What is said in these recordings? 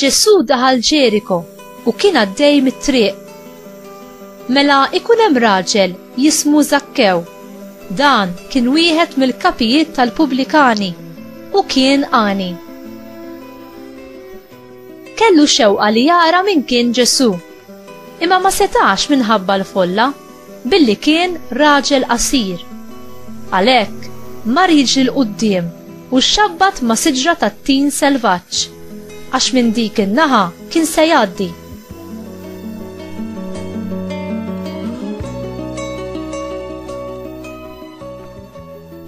Ġesù daħal Ġeriko u kien għaddej mit-triq. Mela ikun hemm raġel jismu Żakkew. Dan kien wieħed mill-kapijiet tal-pubblikani u kien għani. Kellu xewqa li jara min kien Ġesù, imma ma setax minħabba l-folla. billi kien raġel qasir. Għalhekk, mar jiġri 'l quddiem u xxabbat ma' siġra tat-tin selvaġġ, għax minn dik in-naħa kien se jgħaddi.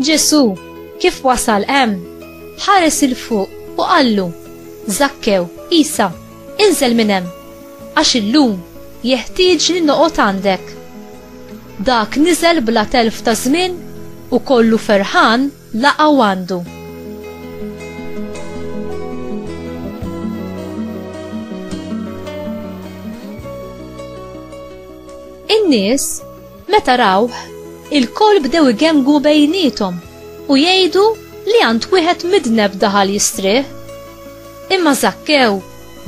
Ġesù, kif wasal hemm, ħares 'il fuq u qallu, Żakkew, qisha. Inżel minn hemm, għax illum jeħtieġni noqgħod għandek. Dak niżel bla telf ta' żmien u kollu ferħan laqgħu għandu. In-nies meta rawh il-koll bdew igemgu bejniethom u jgħidu li għand wieħed midneb daħal jistrieħ. Imma Żakkew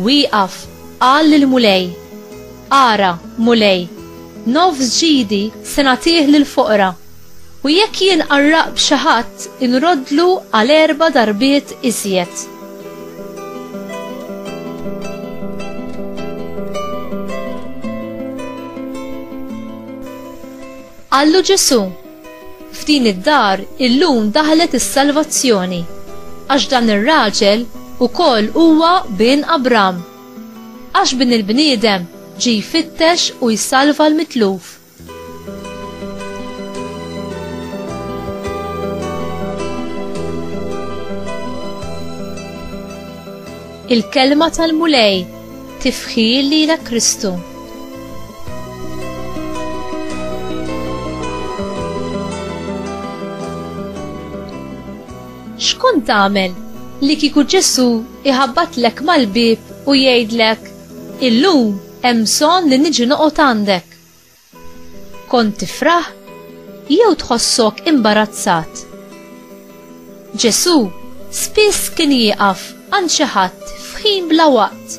wieqaf qal lill-Mulej, Ara, Mulej, nofs ġidi se nagħtih lill-foqra, u jekk jien qarraqt b'xi ħadd inroddlu għal erba' darbiet iżjed. Qallu Ġesù, F'din id-dar illum daħlet is-salvazzjoni, għax dan ir-raġel ukoll huwa bin Abram. Għax Bin il-bniedem ġie jfittex u jsalva l-mitluf. Il-Kelma tal-Mulej. Tifħir lilek Kristu. xkont tagħmel li kieku Ġesu iħabbatlek mal-bib u jgħidlek illum hemm bżonn li niġi noqgħod għandek. Kont tifraħ jew tħossok imbarazzat? Ġesù spiss kien jieqaf għand xi ħadd f'ħin bla waqt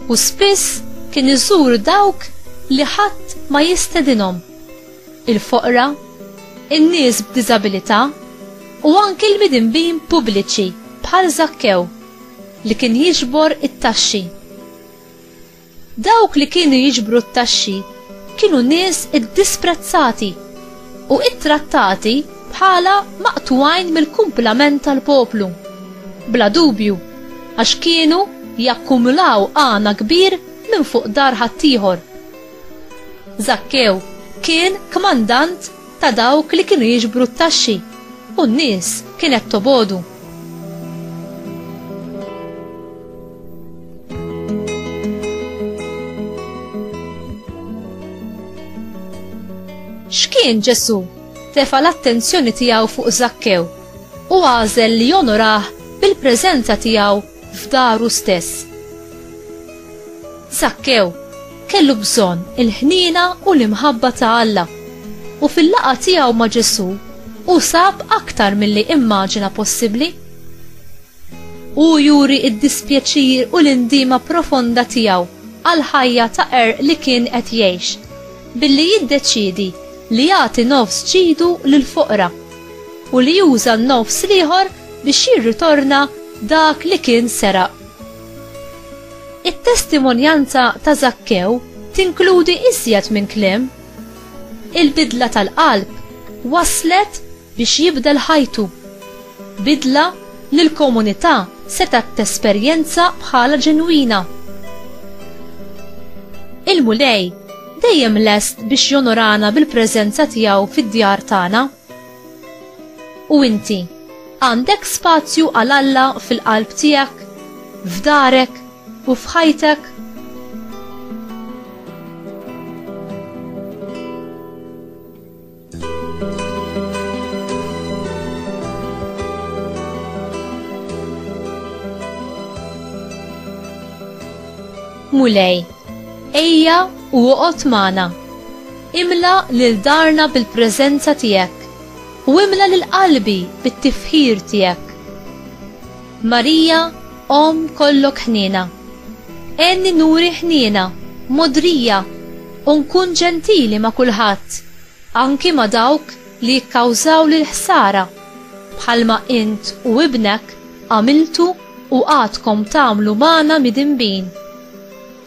u spiss kien iżur dawk li ħadd ma jistedinhom, il-foqra, in-nies b'diżabilità u anki l-midinbin pubbliċi bħal Żakkew li kien jiġbor it-taxxi. Dawk li kienu jiġbru t-taxxi kienu nies iddisprezzati u ttrattati bħala maqtugħin mill-kumplament tal-poplu. Bla dubju, għax kienu jakkumulaw għana kbir minn fuq dar ħaddieħor. Żakkew kien kmandant ta' dawk li kienu jiġbru t-taxxi u n-nies kienet tobodu. X'kien Ġesù tefa l-attenzjoni tiegħu fuq Zakkew u għażel li jonorah bil-preżenza tiegħu f'daru stess. Sakkew kellu bżonn il-ħniena u l-imħabba ta' Alla, u fil-laqgħa tiegħu ma' Ġesù hu sab aktar milli immaġina possibbli. Hu juri id-dispjaċir u l-indiema profonda tiegħu għal ħajja ta' qerq li kien qed jgħix billi jiddeċiedi li jagħti nofs ġidu lill-foqra u li juża n-nofs l-ieħor biex jirritorna dak li kien seraq. It-testimonjanza ta' Żakkew tinkludi iżjed minn kliem. Il-bidla tal-qalb waslet biex jibdel ħajtu, bidla li l-komunità setgħet tesperjenza bħala ġenwina. Il-Mulej Dejjem lest biex jonorana bil-preżenza tiegħu fid-djar tagħna. U inti, għandek spazju għal Alla fil-qalb tiegħek, f'darek u f'ħajtek? Mulej, ejja u oqgħod magħna. Imla lil darna bil-preżenza tiegħek u imla lil qalbi bit-tifħir tiegħek. Marija, Omm kollok ħniena. Għenni nuri ħniena, mogħdrija, u nkun ġentili ma' kulħadd, anki ma' dawk li jikkawżawli l-ħsara, bħalma int u ibnek għamiltu u għadkom tagħmlu magħna midinbin.